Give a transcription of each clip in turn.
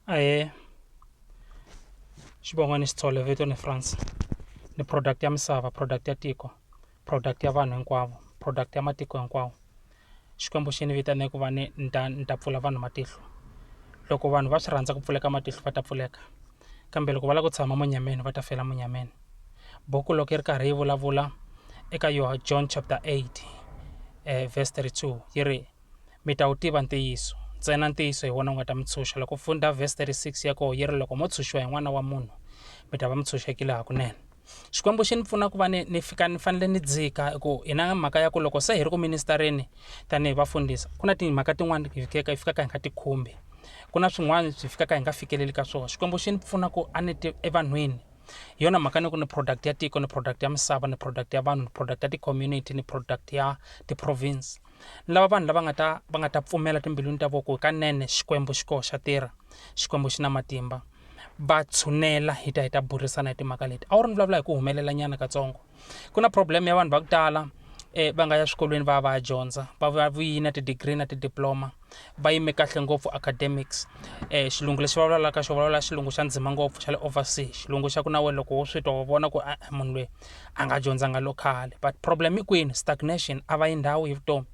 aye xivongo ni xitsole vito ni france ni product ya misava product ya tiko product ya vanhu hinkwavo product ya matiko hinkwawo xikwembu xi ni vitane ku va ni ni ta ni ta pfula vanhu matihlo loko vanhu va swi rhandza ku pfuleka matihlo va ta pfuleka kambe loko va lava ku tshama munyameni va ta fela munyameni buku loko yi ri karhi yi vulavula eka yoho john chapter 8 um verse 32 yi ri mi ta wu tiva ntiyiso, ntsena ntiyiso hi wona wu nga ta mi tshunxa. Loko u fundha verse 36 ya koho yi ri, loko mo tshunxiwa hi N'wana wa munhu, mi ta va mi tshunxekile hakunene. Xikwembu xi ni pfuna ku va ni ni fika ni fanele ni dzika hi ku hi na mhaka ya ku loko se hi ri ku ministareni tanihi vafundhisi ku na timhaka tin'wani hi fikaka hi fikaka hi nga ti khumbi ku na swin'wana swi fikaka hi nga fikeleli ka swona xikwembu xi ni pfuna ku a ni ti evanhwini hi yona mhaka ni ku ni product ya tiko ni product ya misava ni product ya vanhu ni product ya ti-community ni product ya ti-province Ni lava vanhu lava nga ta va nga ta pfumela timbilwini ta vona ku hikanene Xikwembu xi koho xa tirha, Xikwembu xi na matimba. Va tshunela hi ta hi ta burisana hi timhaka leti. A wu ri ni vulavula hi ku humelela nyana katsongo. Ku na problem ya vanhu va ku tala va nga ya swikolweni va ya va ya dyondza va vuya na ti-degree na ti-diploma. va yime kahle ngopfu academics xilungu lexi va vulavulaka xo vulavula xilungu xa ndzima ngopfu xa le oversea xilungu xa ku na wena loko wo swi twa wa vona ku a munhu loyi a nga dyondzanga local but problem i kwini stagnation a va yi ndhawu hi vutomi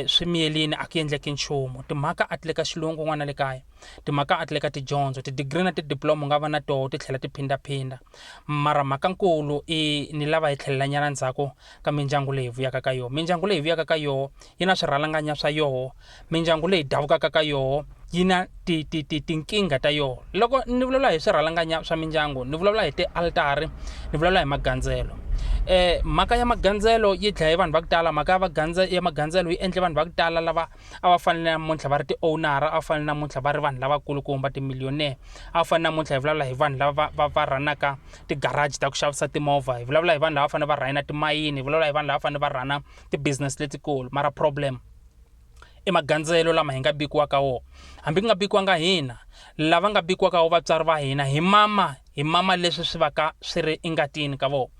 swi miyerile a ku endleki nchumu timhaka a ti le ka xilungu n'wana le kaya timhaka a ti le ka tidyondzo ti-degree na ti-diploma u nga va na tona ti tlhela ti phindaphinda mara mhaka nkulu i ni lava hi tlhelela nyana ndzhaku. ka mindyangu leyi hi vuyaka ka yoho mindyangu leyi hi vuyaka ka yoho yi na swirhalanganya swa yoho mindyangu leyi davukaka ka yoho yi na ti, ti, ti, tinkingha ta yoho loko ni vulavula hi swirhalanganya swa mindyangu ni vulavula hi tialtari ni vulavula hi magandzelo eh mhaka ya magandzelo yi dlaye vanhu va ku tala mhaka ya magandzelo yi endle vanhu va ku tala lava a va fanele namuntlha va ri ti-owner-a a va fanele namuntlha va ri vanhu lavakulukumba ti-millionaire a va fanele namuntlha hi vulavula hi vanhu lava va va rhanaka ti-garage ta ku xavisa timovha hi vulavula hi vanhu lava fanele va rhayina timayini hi vulavula hi vanhu lava fanele va rhana ti-business letikulu mara problem i magandzelo lama hi nga bikiwaka wona hambi ku nga bikiwanga hina lava nga bikiwaka wo vatswari va hina hi mama hi mama leswi swi va ka swi ri engatini ka vona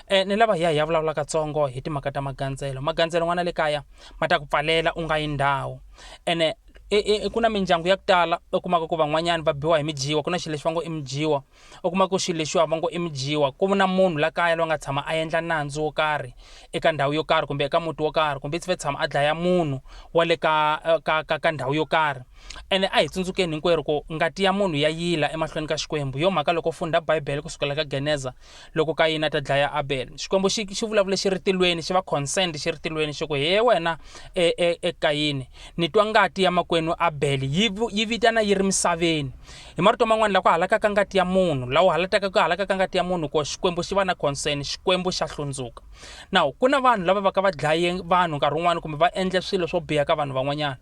um ni lava hi ya hi ya vulavula katsongo hi timhaka ta magandzelo magandzelo n'wana le kaya ma ta ku pfalela u nga yi ndhawu ene e, e, e, ku na mindyangu ya ku tala u kumaka ku van'wanyana va biwa hi midyiwa ku na xilo lexi va ngo i midyiwa u kuma ku xilo lexiwa va ngo i midyiwa ku na munhu la kaya loyi nga tshama a endla nandzu wo karhi eka ndhawu yo karhi kumbe eka muti wo karhi kumbe i tsve tshama a dlaya munhu wa le ka, ka, ka, ka ndhawu yo karhi Ene a hi tsundzukeni hinkwerhu ku ngati ya munhu ya yila emahlweni ka Xikwembu. Hi yo mhaka loko u fundha Bibele ku sukela ka Geneza, loko Kayini a ta dlaya Abele, Xikwembu xi xi vulavule xi ri tilweni, xi va concerned xi ri tilweni xi ku, He wena e, e, e Kayini, ni twa ngati ya makwenu Abele yi, yi vitana yi ri misaveni. Hi marito man'wana, laha ku halakaka ngati ya munhu, laha u halataka ku halakaka ngati ya munhu ko, Xikwembu xi va na concern, Xikwembu xa hlundzuka. Now, ku na vanhu lava va ka va dlaye vanhu nkarhi wun'wana kumbe va endle swilo swo biha ka vanhu van'wanyana.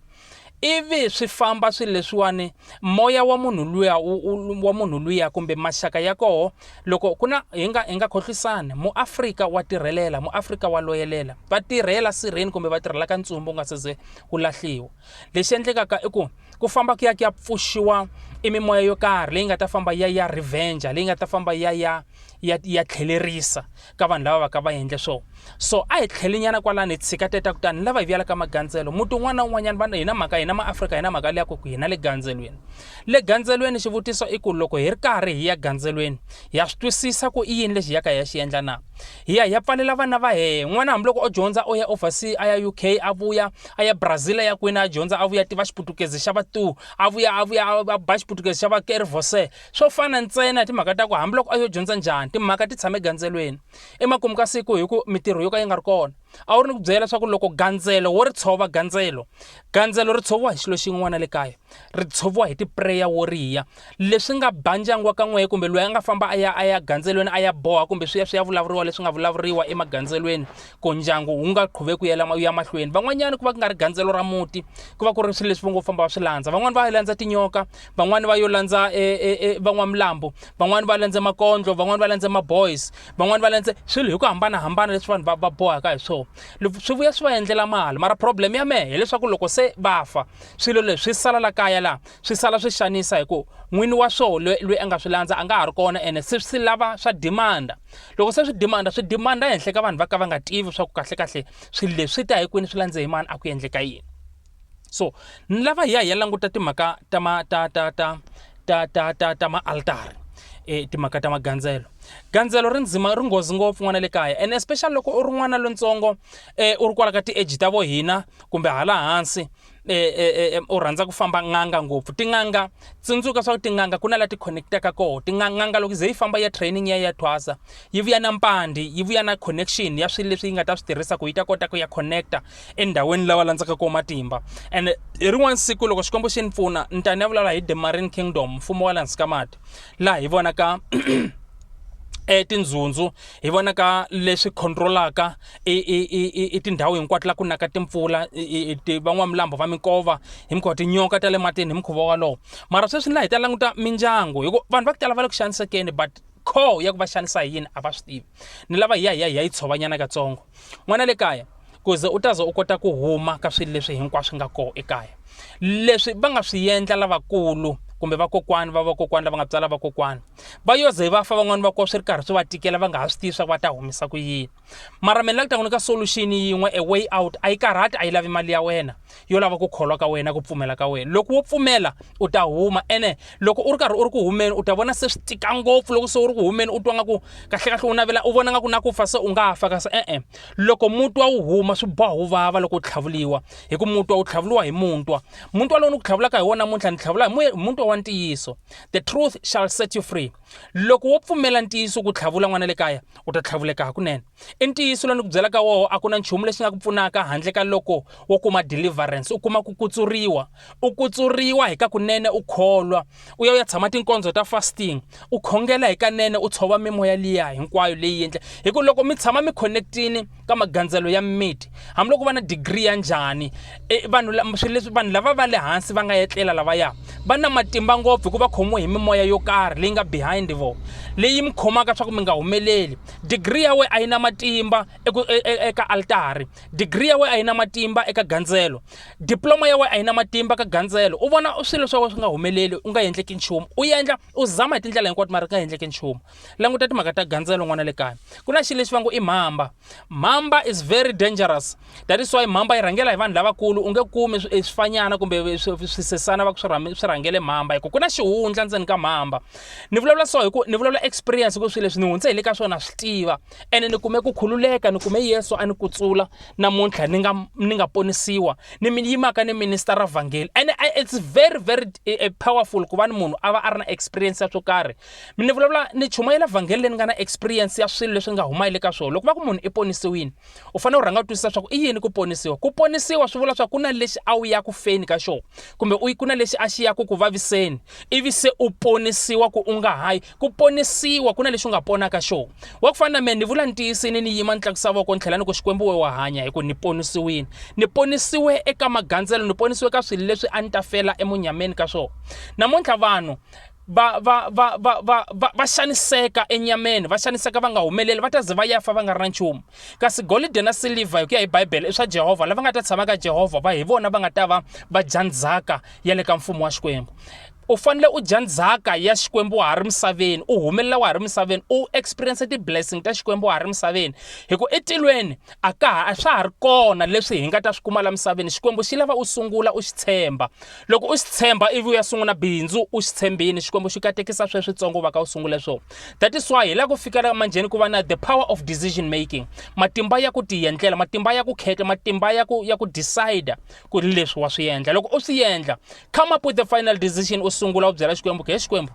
ivi swi famba swi leswiwani moya wa munhu luya wa munhu luya kumbe maxaka ya koho loko ku na hi nga hi nga khohlisani muafrika wa tirhelela muafrika wa loyelela va tirhela sirheni kumbe va tirhela ka ntsumbu wu nga se ze wu lahliwa lexi endlekaka i ku ku famba ku ya ku ya pfuxiwa i mimoya yo karhi leyi nga ta famba ya ya revenge leyi nga ta famba ya ya ya ya tlhelerisa ka vanhu lava va ka va endle swo so a hi tlhelinyana kwalani hi tshika teta kutani lava hi vuyela ka magandzelo muti un'wana na un'wanyana va hina mhaka hina maafrika hina mhaka liya ku ku hina le gandzelweni le gandzelweni xivutiso i ku loko hi ri karhi hi ya gandzelweni hi ya swi twisisa ku i yini lexi hi yaka hi ya xi endla na hi ya hi ya pfalela vana va hehe n'wana hambiloko o dyondza o ya oversea a ya uk a vuya a ya brazil a ya kwini a dyondza a vuya tiva xiputukezi xa vatu a vuya a vuya a ba xiputukezi xa vakerivose Swo fana ntsena hi timhaka ta ku hambiloko a yo dyondza njhani, timhaka ti tshame gandzelweni. Emakumu ka siku hi ku mitirho yo ka yi nga ri kona, a wu ri ni ku byela leswaku loko gandzelo wo ri tshova gandzelo, gandzelo ri tshoviwa hi xilo xin'we n'wana le kaya, ri tshoviwa hi tipreya wo riya. Leswi nga ba ndyangu wa ka n'wehe kumbe loyi a nga famba a ya a ya gandzelweni a ya boha kumbe swi ya swi ya vulavuriwa leswi nga vulavuriwa emagandzelweni ku ndyangu wu nga qhuveki wu yela wu ya mahlweni. Van'wanyana ku va ku nga ri gandzelo ra muti, ku va ku ri swilo leswi vo ngo famba va swi landza. Van'wani va landza tinyoka. van'wani va yo landza e, e, e, van'wamilambo van'wani va landze makondlo van'wani va landze maboys van'wani va landze swilo hi ku hambanahambana leswi vanhu va bohaka hi swona swi vuya swi va endlela mali mara problem ya mehe hileswaku loko se va fa swilo leswi swi sala la kaya laha swi sala swi xanisa hi ku n'wini wa swona loyi loyi a nga swi landza a nga ha ri kona ene se swi lava swa demanda loko se swi demanda swi demanda ehenhla ka vanhu va ka va nga tivi swa ku kahlekahle swilo leswi ta hi kwini swi landze hi mani a ku endleka yini so ni lava hi ya hi ya languta timhaka ta ma ta ta ta ta ta ta ta maaltari e timhaka ta magandzelo gandzelo ri ndzima ri nghozi ngopfu n'wana le kaya and especially loko u ri n'wana lontsongo e u ri kwala ka ti-age ta vo hina kumbe hala hansi e, e, e, e u rhandza ku famba n'anga ngopfu tin'anga tsundzuka swa ku tin'anga ku na la ti-connectaka koho tin'anga loko ze yi famba ya training ya ya thwasa yi vuya na mpandi yi vuya na connection ya swilo leswi yi nga ta swi tirhisa ku yi ta kota ku ya connecta endhawini lawa landzaka koho matimba and hi rin'wana siku loko xikwembu xi ni pfuna ni ta ni ya vulavula hi the marine kingdom mfumo wa le hansi ka mati laha hi vonaka e tindzundzu hi vona ka leswi controlaka i tindhawu hinkwato la ku naka timpfula van'wamilambo va minkova hi mikhuva tinyoka ta le matini hi mikhuva walowo mara sweswi ni laha hi ta languta mindyangu hikuva vanhu va ku tala va le ku xanisekeni but call ya ku va xanisa hi yini a va swi tivi ni lava hi ya hi ya hi ya yi tshovanyana katsongo n'wana le kaya ku ze u ta ze u kota ku huma ka swilo leswi hinkwaswo nga kona ekaya leswi va nga swi endla lavakulu kumbe vakokwani va vakokwani lava nga tswala vakokwani va yo ze va fa van'wani va ko swi ri karhi swi va tikela va nga ha swi tivi swa ku va ta humisa ku yini mara mina la ku ta n'wi nyika solution yin'we a way out a yi karhati a yi lavi mali ya wena yo lava ku kholwa ka wena ku pfumela ka wena loko wo pfumela u ta huma ene loko u ri karhi u ri ku humeni u ta vona se swi tika ngopfu loko se u ri ku humeni u twa nga ku kahlekahle u navela u vona nga ku na ku fa se u nga fa kasi e-e loko mutwa wu huma swi boha wu vava loko u tlhavuliwa hi ku mutwa wu tlhavuliwa hi muntwa muntwa lowu ni ku tlhavulaka hi wona namuntlha ni tlhavula hi mutwa wa ntiyiso the truth shall set you free loko wo pfumela ntiyiso ku tlhavula n'wana le kaya u ta tlhavuleka hakunene i ntiyiso lowu ni ku byelaka woho a ku na nchumu lexi nga ku pfunaka handle ka loko wo kuma deliverance u kuma ku kutsuriwa u kutsuriwa hi ka kunene u kholwa u ya u ya tshama tinkondzo ta fasting u khongela hi kanene u tshova mimoya liya hinkwayo leyi endla hi ku loko mi tshama mi connectini ka magandzelo ya mimiti hambiloko va na digiri ya njhani e, vanhu swilo leswi vanhu lava va le hansi va nga etlela lavaya va na matimba ngopfu hikuva khomiwe hi mimoya yo karhi leyi nga behind vo leyi mi khomaka swa ku mi nga humeleli digiri ya we a yi na matimba e, e, eka altari digiri ya we a yi na matimba eka gandzelo diploma ya we a yi na matimba ka gandzelo u vona swilo swa we swi nga humeleli u nga endleki nchumu u endla u zama hi tindlela hinkwato mara ku nga endleki nchumu languta timhaka ta gandzelo n'wana le kaya ku na xilo lexi va ngo i mhamba mhamba is very dangerous that is why mhamba yi rhangela hi vanhu lavakulu u nge kumi eh, swifanyana kumbe eh, swisesana va ku swi rhangele mhamba hikuva ku na xihundla ndzeni ka mhamba ni vulavula so hi ku ni vulavula experience ku swilo leswi ni hundze hi le ka swona swi tiva ene ni kume ku khululeka ni kume yesu a ni kutsula namuntlha ni nga ni nga ponisiwa ni mi yimaka ni minister ra vhangeli ene eh, it's very very powerful ku va ni munhu a va a ri na experience ya swo karhi Mi ni vulavula ni chumayela vhangeli leyi ni nga na experience ya swilo leswi ni nga huma ka swona. Loko va ku munhu i ponisiwile, u fanele u rhanga u twisisa swa ku i yini ku ponisiwa. Ku ponisiwa swi vula swa ku na lexi a wu ya ku feni ka xona kumbe u ku na lexi a xi ya ku ku vaviseni ivi se u ponisiwa ku u nga hayi. Ku ponisiwa ku na lexi u nga pona ka xona. Wa ku fana na mina ni vula ni tiyisini ni yima ni tlakusa voko ni tlhela ni ku Xikwembu we wa hanya hi ku ni ponisiwile. Ni ponisiwe eka magandzelo, ni ponisiwe ka swilo leswi a ni ta fela emunyameni ka swona. Namuntlha vanhu va, va, va, va, va, va, va xaniseka enyameni va xaniseka va nga humeleli va ta ze va ya fa va nga ri na nchumu kasi golide na silivha hi ku ya hi bibele i swa jehovha lava nga ta tshama ka jehovha va hi vona va nga ta va va dya ndzhaka ya le ka mfumo wa xikwembu u fanele u dya ndzhaka ya xikwembu wa ha ri misaveni u humelela wa ha ri misaveni u experience ti-blessing ta xikwembu wa ha ri misaveni hi ku etilweni a ka ha a swa ha ri kona leswi hi nga ta swi kuma la misaveni xikwembu xi lava u sungula u xi tshemba loko u swi tshemba ivi u ya sungula bindzu u swi tshembini xikwembu xi katekisa sweswitsongo va ka u sungule swo that is why hi la ku fikela manjheni ku va na the power of decision making matimba ya ku tiyendlela matimba ya ku khetla matimba ya ku ya ku decide ku ri leswi wa swi endla loko u swi endla come up with the final decision u sungula u byela xikwembu ke xikwembu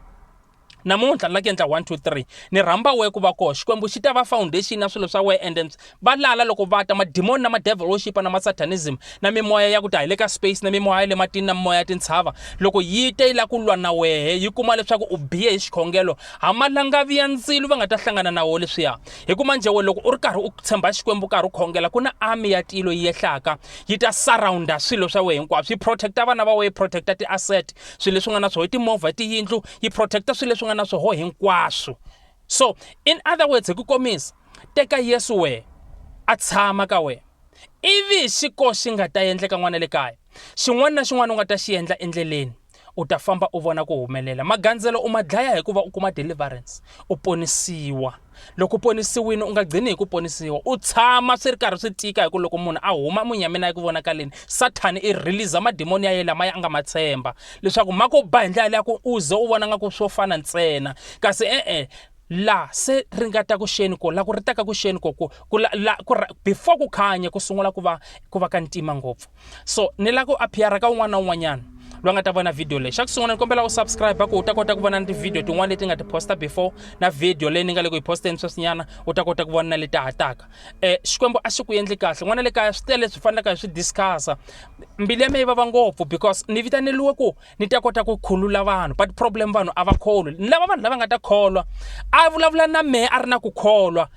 namuntlha ni lake endla one two three ni rhamba we ku va koho xikwembu xi ta va foundation ya swilo swa we and then va lala loko va ta madimoni na madevil worship na masatanism na mimoya ya ku ta hi le ka space na mimoya ya le matini na mimoya ya tintshava loko yi te yi la ku lwa na wehe yi kuma leswaku u biye hi xikhongelo ha malangavi ya ndzilo va nga ta hlangana na wo leswiya hi ku manje we loko u ri karhi u tshemba xikwembu karhi u khongela ku na army ya tilo yi yehlaka yi ta surrounda swilo swa we hinkwaswo yi protecta vana va we yi protecta ti-asset swilo leswi nga na swoho timovha tiyindlu yi protecta swilo leswi nga na swoho hinkwaswo so in other words hi ku komisa teka yesu wehe a tshama ka wena ivi xi ko xi nga ta endleka n'wana le kaya xin'wana na xin'wana u nga ta xi endla endleleni u ta famba u vona ku humelela magandzelo u ma dlaya hikuva u kuma deliverance u ponisiwa loko u ponisiwile u nga gcini hi ku ponisiwa u tshama swi ri karhi swi tika hi ku loko munhu a huma munyameni a yi ku vonakaleni sathani i release madimoni ya ye lama ya nga ma tshemba leswaku ma ku ba hi ndlela leya ku u ze u vona nga ku swo fana ntsena kasi e-e la se ri nga ta ku xeni ko la ku ri taka ku xeni ko ku la, la, ku, before ku khanya ku sungula ku va ku va ka ntima ngopfu so ni lava ku appeara ka un'wana na un'wanyana loyi nga ta vona video leyi xa ku sungula ni kombela u subscribe ku u ta kota ku vona ni tivhidiyo tin'wana leti nga ti posta before na video leyi ni nga le ku yi posteni sweswinyana u ta kota ku vona na leti hataka um xikwembu a xi ku endli kahle n'wana le kaya swi tele leswi fanelaka hi swi discussa mbilu ya me yi vava ngopfu because ni vitaneliwe ku ni ta kota ku khulula vanhu but problem vanhu a va kholwi ni lava vanhu lava nga ta kholwa a vulavula na mehe a ri na ku kholwa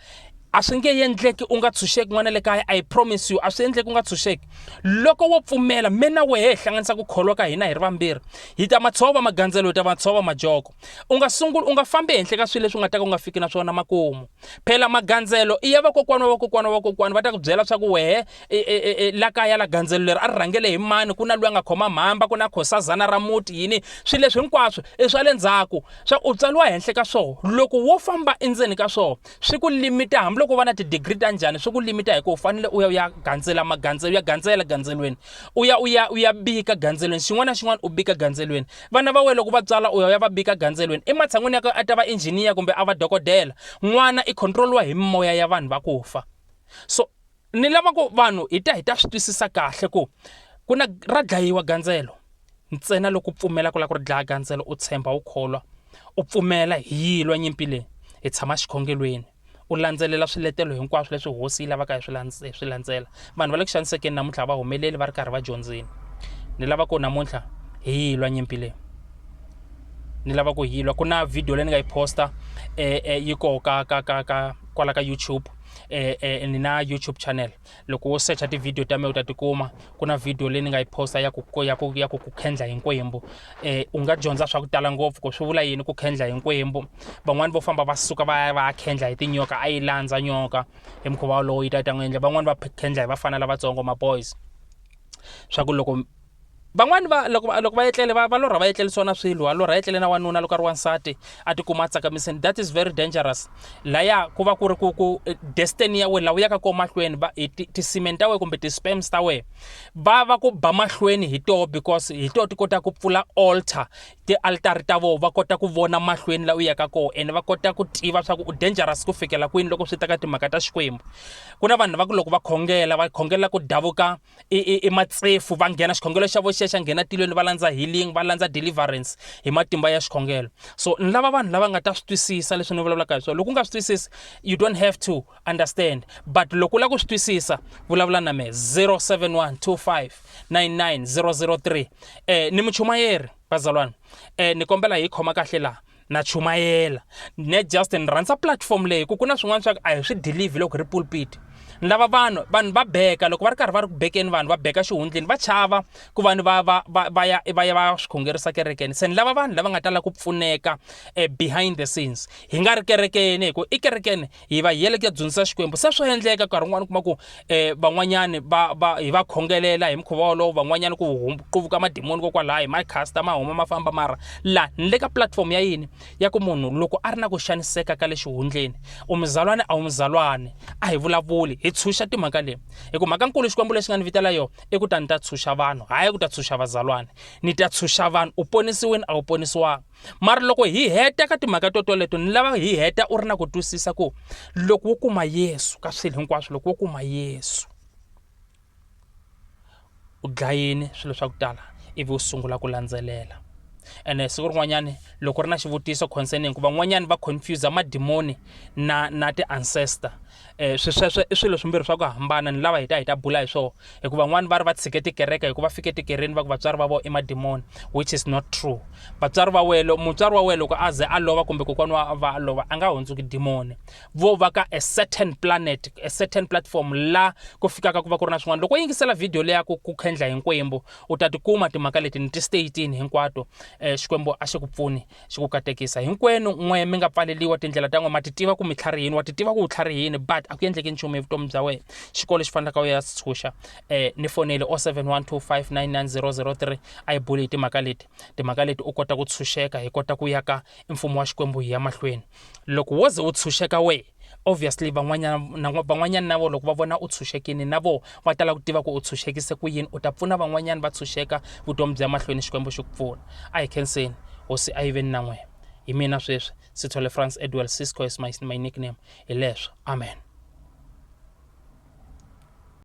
a swi nge endleki u nga tshunxeki n'wana le kaya i promise you a swi endleki u nga tshunxeki loko wo pfumela me na wehe hi hlanganisa ku kholwa ka hina hi ri vambirhi hi ta matshova magandzelo hi ta matshova majoko u nga sunguli u nga fambi ehenhla ka swilo leswi u nga ta ka u nga fiki na swona makumu phela magandzelo i ya vakokwana wa vakokwana wa vakokwana va ta ku byela swa ku wehe e, e, e, e la kaya la gandzelo leri a ri rhangele hi mani ku na loyi a nga khoma mhamba ku na khosazana ra muti yini swilo leswi hinkwaswo i swa le ndzhaku swa u tswaliwa henhla ka swona loko wo famba endzeni ka swona swi ku limita hambiloko u va na tidigiri ta njhani swi ku limita hi ku u fanele u ya u ya gandzela magandzelo ya gandzela gandzelweni u ya u ya u ya bika gandzelweni xin'wana na xin'wana u bika gandzelweni vana va wena loko va tswala u ya u ya va bika gandzelweni ematshan'wini ya ku a ta va injhiniya kumbe a va dokodela n'wana i controliwa hi mimoya ya vanhu va ku fa so ni lava ku vanhu hi ta hi ta swi twisisa kahle ku ku na ra dlayiwa gandzelo ntsena loko u pfumela ku lava ku ri dlaya gandzelo u tshemba u kholwa u pfumela hi yilwa nyimpi leyi hi tshama xikhongelweni u landzelela swiletelo hinkwaswo leswi hosi yi lavaka hi swi landzela vanhu va le ku xanisekeni namuntlha va humeleli va ri karhi va dyondzini ni lava ku namuntlha hi yilwa nyimpi leyi ni lava ku yilwa ku na video leyi ni nga yi posta eh, eh, yi koho ka ka ka ka kwala ka youtube eh, eh, ni na youtube channel loko wo secha tivhidiyo ta mina u ta tikuma ku na vhidiyo leyi ni nga yi posta ya ku ya ku ya ku ku khendla hi nkwembu eh, u nga dyondza swa ku tala ngopfu ku swi vula yini ku khendla hi nkwembu van'wani vo famba va suka va ya va ya khendla hi tinyoka a yi landza nyoka hi mukhuva wolowo yi ta yi ta n'wi endla van'wani va khendla hi vafana lavatsongo maboys swa ku loko Van'wana va loko va loko va etlele va va lorha va etlerisiwa na swilo a lorha etlele na wanuna loko a ri wansati a tikuma a tsakamisini that is very dangerous laya ku va ku ri ku ku eh, destiny ya wena laha u yaka kona mahlweni va hi ti- tisimeni ta wena kumbe ti-sperms ta wena va va ku ba mahlweni hi toho because hi toho ti kota ku pfula altar ti-altari ta voho va kota ku vona mahlweni laha u yaka kona ene va kota ku tiva swa ku u dangerous ku fikela kwini loko swi ta ka timhaka ta xikwembu ku na vanhu va ku loko va khongela va khongela ku davuka i, i, i matsefu va nghena xikhongelo xa vo xexa nghena tilweni va landza healing va landza deliverance hi matimba ya xikhongelo so ni lava vanhu lava nga ta swi twisisa leswi ni vulavulaka hi swona loko u nga swi twisisi you don't have to understand but loko u lava ku swi twisisa vulavula na me 071 25 99 003 eh ni muchumayeri vazalwana eh ni kombela hi khoma kahle laha na chumayela ne just ni rhandza platform leyi ku ku na swin'wana swa ku a hi swi delive loko ri pulpit ni lava vanhu vanhu va beka loko va ri karhi va ri ku bekeni vanhu va beka xihundleni va chava ku va ni va va va va ya va ya va swi khongerisa kerekeni se ni lava vanhu lava nga ta lava ku pfuneka eh, behind the scenes hi nga ri kerekeni hi ku i kerekeni hi va yele ku ya dzunisa xikwembu se swa endleka nkarhi wun'wana kuma ku um van'wanyani va va hi va khongelela hi mukhuva wolowo van'wanyani ku quvuka madimoni kokwalaho hi ma casta ma huma ma famba mara laha ni le ka platform ya yini ya ku munhu loko a ri na ku xaniseka ka le xihundleni u muzalwane a wu muzalwane a hi vulavuli hi tshunxa timhaka leyi hi ku mhaka nkulu xikwembu lexi nga ni vitela yona i ku ta ni ta tshunxa vanhu hayi ku ta tshunxa vazalwane ni ta tshunxa vanhu u ponisiwini a wu ponisiwanga mara loko hi heta ka timhaka to toleto ni lava hi heta u ri na ku twisisa ku loko wo kuma yesu ka swilo hinkwaswo loko wo kuma yesu u dlayini swilo swa ku tala ivi u sungula ku landzelela ene siku rin'wanyani loko ri na xivutiso concerning ku van'wanyani va confuse madimoni na na ti-ancestor um swisweswo i swilo swimbirhi swa ku hambana ni lava hi ta hi ta bula hi swona hikuva van'wani va ri va tshike tikereke hikuva fike tikereni va ku vatswari va vo i madimoni which is not true vatswari va wena mutswari wa wena loko a ze a lova kumbe kokwana wa va a lova a nga hundzuki dimoni vo va ka a certain planet a certain platform la ku fikaka ku va ku ri na swin'wana loko yingisela video leya ku ku khendla hinkwembu u ta tikuma timhaka leti ni ti statini hinkwato um xikwembu a xi ku pfuni xi ku katekisa hinkwenu n'we mi nga pfaleliwa tindlela ta n'we ma titiva ku mi tlharihini wa titiva ku u tlharihini but a ku endleki nchumu evutomi bya wena xikolo xi fanelaka u ya si tshunxa um eh, ni fonele o 712599003 a yi buli hi timhaka leti timhaka leti u kota ku tshunxeka hi kota ku yaka mfumo wa xikwembu hi ya mahlweni Loko wo ze u tshunxeka wehe, obviously van'wanyana van'wanyana na vona loko va vona u tshunxekile na vona va ta lava ku tiva ku u tshunxekise ku yini u ta pfuna van'wanyana va tshunxeka vutomi bya mahlweni Xikwembu xi ku pfuna. A hi khenseni, Hosi a yi ve ni na n'wina. Hi mina sweswi, Sithole Frans Edwell, Sisco is my, my nickname. Hi leswo. Amen.